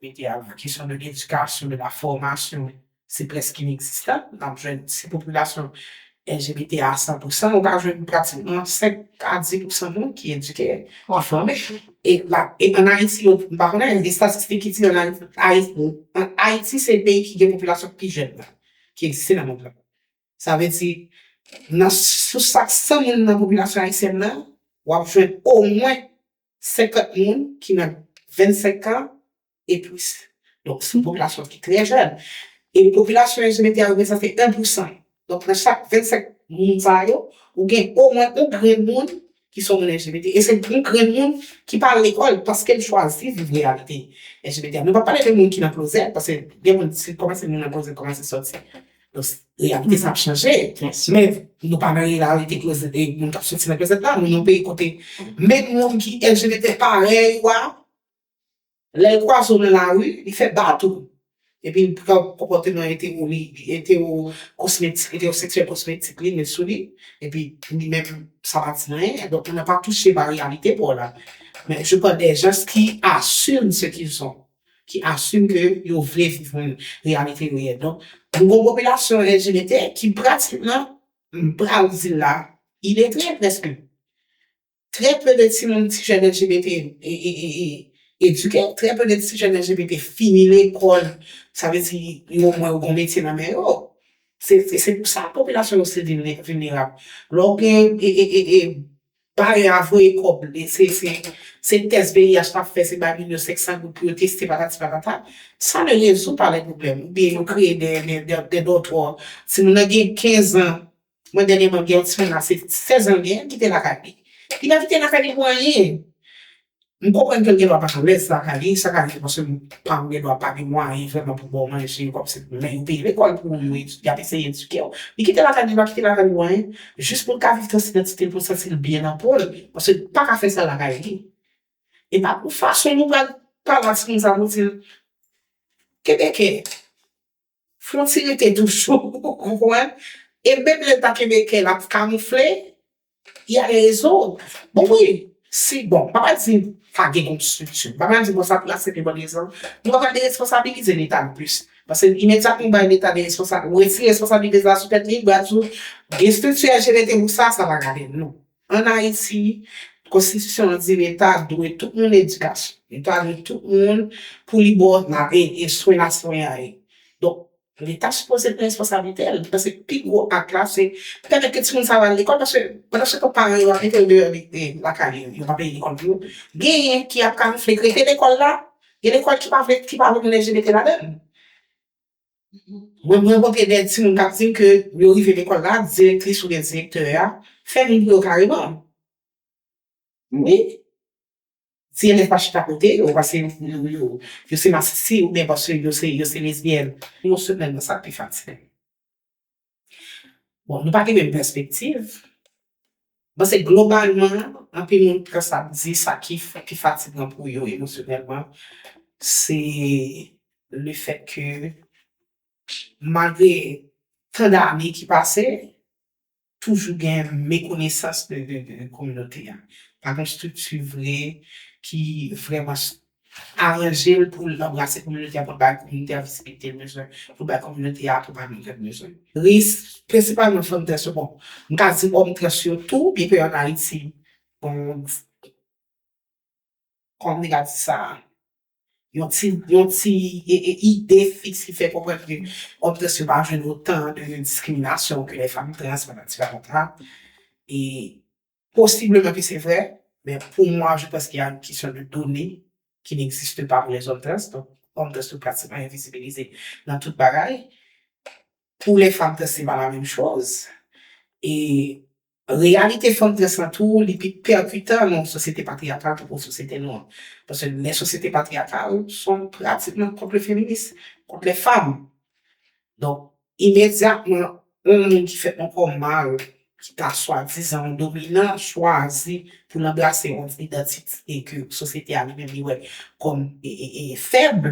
mete a la kesyon de ledikasyon, de la fòmasyon, se prèske inekzistan. N ap jwenn, si popilasyon LGBT a san pou san, ou ka jwenn pratikman 5 a 10 pou san moun ki edike, ki fòme. E la, e an Ayiti yo, m pa konnen, estatistik ki di an Ayiti, Ayiti, an Ayiti se peyi ki gen popilasyon pi jèn nan, ki egziste nan mond lan. Sa vle di, nan, sou chak 100 moun nan popilasyon ayisyèn nan, w ap jwenn omwen 50 moun ki nan 25 kan e plis. Donk se yon popilasyon ki trè jèn. E popilasyon yo se mete a reprezante 1 pou 100. Donk nan chak 25 moun sa yo, ou gen omwen yon grenn moun ki se yon moun LGBT. E se yon grenn moun ki pa al lekòl paske l chwazi viv reyalite LGBT a. Nou pa pale de moun ki nan klozèt paske gen moun si l kòmanse moun nan klozèt kòmanse sòti. Reyalite sa ap chanje. Men nou pa nan reyalite moun k ap soti nan klozèt la. Nou nan yon peyi kote menm moun ki LGBT parèy ou a, lè l kwaze w nan lari, li fè bat ou. Epi l pran konpòteman etero li, etero kosmetik, etero seksyèl kosmetik li, met sou li. Epi li menm sa pa di anyen. Donk ou nan pa touche pa reyalite pa w la. Men je pale de jès ki asime se ki l son. ki asime ke yo vle viv yon reyalite reyèl. Donk, nou gon popilasyon LGBT ki pratikman, m pral di l la, iletre prèske. Trè pe de timoun, ti jèn LGBT edike, trè pe de ti jèn LGBT fini lekòl, sa vle di yo omwen yo gon metye nan men yo. Se pou sa popilasyon yo se vilnerab. Lè w gen Pare a voye kòb li se se se tès VIH lap fè se bay moun yo 500 goud pou yo teste patati patata sa ne rezout pa le problème ou byen yo kreye de de de dòtò ti moun nan gen 15 ans mwen dènyèman m gen yon ti moun la se 16 ans l gen kite lakay li li pa kite lakay li pou anyen M konprann ke l gen dwa pa t alèz lakay li, sa ka rive paske paran w gen dwa pa gen mwayen vrèman pou ba w manje kòm se men yo peye lekòl pou ou, y ap eseye edike w. Li kite lakay li, li pa kite lakay pou anyen, jis pou l ka viv trans idantite l, pou l santi l byen nan po l, paske l pa ka fè sa lakay li. E pa pou fason nou pral pale ak timoun sa pou di l, Kebekè! Fonti rete toujou ou konprann e menm lèl pa kenbe kèl ap kamoufle y a rezon bon wi si bon pa pa di pa gen yon strikti pa pa di bon sa pou asepte bon egzanp nou ap pale de responsabilize leta nou plis pase imedyatman ou bay leta de responsab ou retire responsabilite sa sou tèt li baz ou gen strikti a jere te pou sa sa pa gade non. An Ayiti, konstitisyon an di leta dwe tout moun edikasyon. Leta dwe tout moun pou li ba w swen nan swen an ye. Donk, leta sipoze pran responsablite l. Mwen panse pi gwo ak la se pou pèmèt ke timoun sa yo al lekòl paske pandansyetan paran yo ap mete yo deyò lakay yo, yo pa peye lekòl pou yo, genyen ki ap kamufle ki rete lekòl la, gen lekòl ki pa vle ki pa vle moun LGBT ladan l. Mwen rankontre de timoun kap dim ke yo rive lekòl la, direktris oubyen direktè a fè moun pou yo kareman. Wi. Ti elèv pa chita kote yo pase yo se masisi oubyen paske yo se lesbyèn. Yon semèn nan sa pi fatigant. Bon, nou pa gen menm pèspektiv. Bon, se globalman, anpil moun pran sa ap di, sa ki pi fatigan pou yo emosyonèlman, se le fèt ke malgre tan dane ki pase, toujou gen mekonesans de kominote a. Pa gen estrikti vre ki vrèman aranje l pou l anbrase kominote a, pou l bay kominote a vizibilite l bezwen, pou l bay kominote a akonpayman ke l bezwen. Risk, prensipalman fanm trans yo, bon, m ka di òm trans yo tou, byen ke an Ayiti, bon, kòman m te ka di sa a? yon ti ide fiks ki fè konprann ke òm trans yo pa jwenn otan de diskriminasyon ke lè fanm trans pandan ti patòt la. E posibleman ke se vrè, men pou mwa je panse ke y a yon kesyon de done ki n'existe pa pou lèzòm trans, donk òm trans yo pratikman envizibilize nan tout bagay. Pou lè fanm trans se pa la menm choz. E Reyalite fanm trans lan tou, li pi pèkitan nan yon sosyete patriyakal tankou sosyete nou an. Paske lè sosyete patriyakal, son pratikman kont le feminis, kont lè fanm. Donk, imedyatman, yon moun ki fèt ankò mal, ki ta swadizan yon dominan, chwazi pou l anbrase yon idantite ke sosyete a li menm li wè kòm fèb,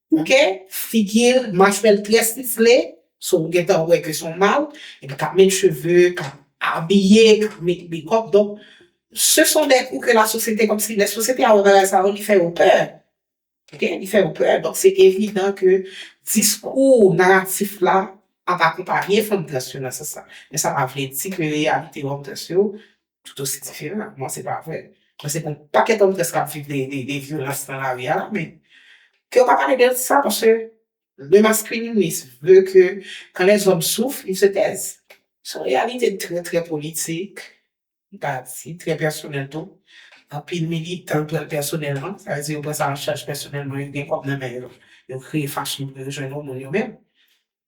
ok figil mach fèl trè stifle so ou gentan wè ke son mal epi kap met cheve kap abiye kap met mekòp donk se son dè kou ke la sosyete kòmsi lè sosyete a wè bagay sa yo li fè yo pè ok li fè yo pè donk se evidan ke diskou naratif la ap akonpanye fanm trans yo nan sans sa men sa pa vle di ke reyalite fanm trans yo tout osi diferan ak mwen, se pa vre. Mwen se yon pakèt òm trans kap viv de vyolans nan lari a la men ke yo pa pale de sa paske le maskulinis vle ke kan lèzòm souf il se tèz. Se yon reyalite trè trè politik, m ta di trè pèsonèl tou. Anpil militan pran l pèsonèlman, sa vle di yo pran sa an chaj pèsonèlman, yo gen kòb nan men yo, yo kreye fachon pou yo jwenn yon moun yo menm.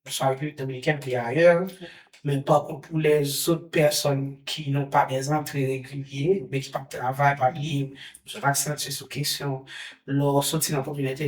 Nou salye Dominiken ki ayè, men tankou pou lè zot pèsòn ki nou pa dè zantre regilye, men ki pa travay, pa bliye, nou sot aksantiye sou kesyon lè w soti nan kominote.